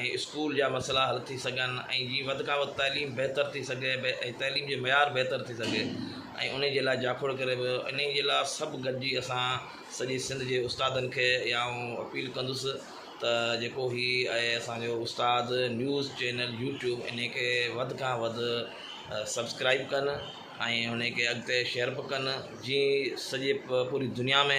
۽ school جا مسئلا حل ٿي سگهن ۽ جيئن وڌ کان وڌ تعليم بهتر ٿي سگهي ۽ تعليم جو معيار بهتر ٿي سگهي ۽ انهي جي لاء جاکوڙ ڪري پيو انهي جي لاء سڀ گڏجي اسان سڄي سنڌ جي استادن کي يا آئون اپيل ڪندس ته جيڪو هي آهي اسان جو استاد نيوز چينل يوٽيوب انهي کي وڌ کان وڌ سبسڪرائيب ڪن ۽ انهي کي اڳتي شيئر به ڪن جيئن سڄي پوري دنيا ۾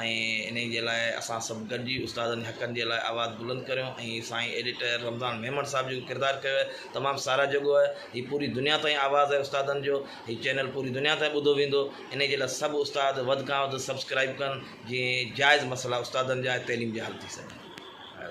۽ انهي جي لاء اسان سڀ گڏجي استادن جي حقن جي لاء آواز بلند ڪريون ۽ سائين ايڊيٽر رمضان ميمڻ صاحب جيڪو ڪردار ڪيو آهي تمام ساراهه جوڳو آهي هي پوري دنيا تائين آواز آهي استادن جو هي چينل پوري دنيا تائين ٻڌو ويندو انهي جي لاء سڀ استاد وڌ کان وڌ سبسڪرائيب ڪن جيئن جائز مسئلا استادن جا ۽ تعليم جا حل ٿي سگهن